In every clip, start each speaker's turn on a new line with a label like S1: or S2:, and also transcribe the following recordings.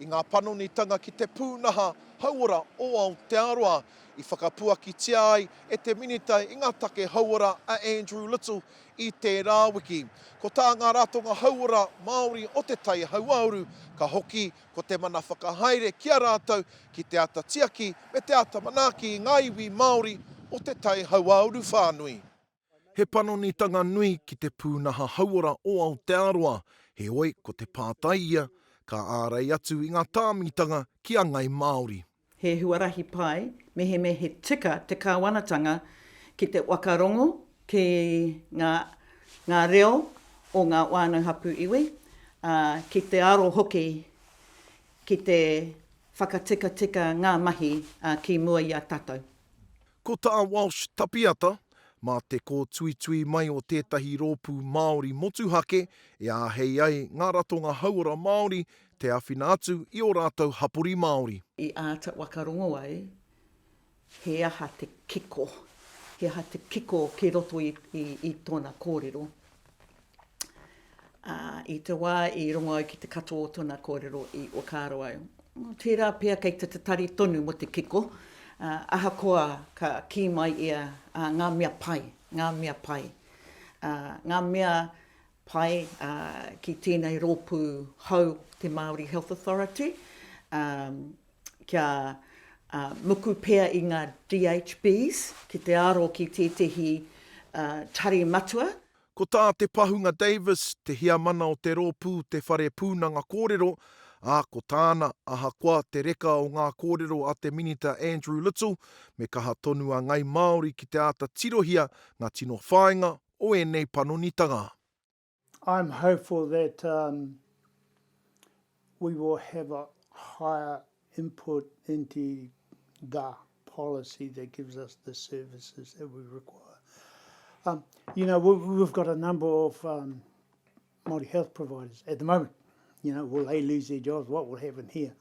S1: i ngā panonitanga ki te pūnaha hauora o Aotearoa, i whakapuakitia ai e te Minita i ngā Take Hauora a Andrew Little i tērā wiki. Ko tā ngā ratonga hauora Māori o Te Tai Hauāuru, ka hoki ko te mana whakahaere ki a rātou ki te āta tiaki me te āta manaaki i ngā iwi Māori o Te Tai Hauāuru whānui. He panonitanga nui ki te pūnaha hauora o Aotearoa, heoi ko te pātai ia, ka ārei atu i ngā tāmitanga ki a Ngai Māori. He huarahi
S2: pai mehemea he tika te Kāwanatanga ki te whakarongo ki ngā ngā reo o ngā whānau hapū iwi, ā, ki te aro hoki ki te whakatikatika ngā mahi ki mua i a tātou. Ko tā
S1: Walsh Tapiata, mā te kōtuitui mai o tētahi rōpū Māori motuhake e āhei ai ngā ratonga hauora Māori te āwhina atu i ō rātou hapori Māori. I āta
S2: whakarongo ai he aha te kiko, he aha te kiko kei roto i tōna kōrero. Ā, i te wā i rongo au ki te katoa o tōna kōrero i whakaaro au, tērā pea kei te tatari tonu mō te kiko, ā, ahakoa ka kī mai ia, ā, ngā mea pai, ngā mea pai, ā, ngā mea pai, ā, ki tēnei rōpū hou te Māori Health Authority, ā, kia, ā, muku pea i ngā DHBs ki te aro ki tētehi, ā, tari matua. Ko tā Te
S1: Pahunga Davis, te heamana o te rōpū Te Whare Pūnanga Kōrero, ā, ko tāna, ahakoa te reka o ngā kōrero a te Minita Andrew Little, me kaha tonu a Ngāi Māori ki te āta tirohia ngā tino whāinga o ēnei panonitanga.
S3: I'm hopeful that um, We will have a higher input into the policy that gives us the services that we require. Um, you know, we, we've got a number of um, Māori health providers at the moment. You know, will they lose their jobs? What will happen here?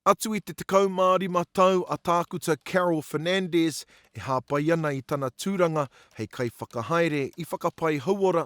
S3: Atu i te
S1: 15 tau a Tākuta Carol Fernandez e hāpai ana i tana tūranga hei kaiwhakahaere i whakapai hauora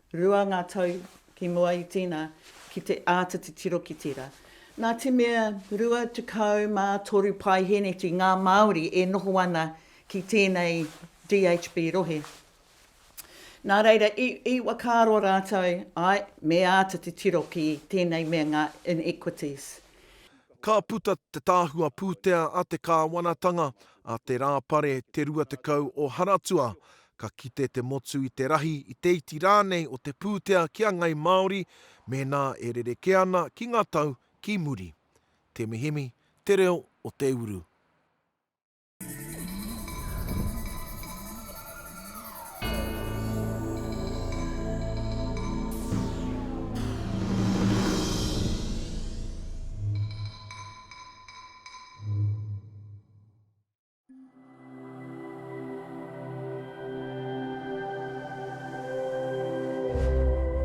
S2: Rua ngā tau ki mua i tīna ki te āta titiro ki tērā. Nā te mea 23 paeheneti ngā Māori e noho ana ki tēnei DHB rohe. Nā reira, i, i whakaaro rātou, āe, me āta titiro ki tēnei mea ngā inequities. Ka
S1: puta te Tahua Pūtea a te Kāwanatanga, a Te Rāpare Te 20 o Haratua, Ka kite te motu i te rahi, i te iti rānei o te pūtea ki a Ngāi Māori mēnā e rerekē ana ki ngā tau ki muri. Temihemi, Te Reo o te Uru.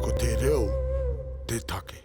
S1: Ko te reo te take.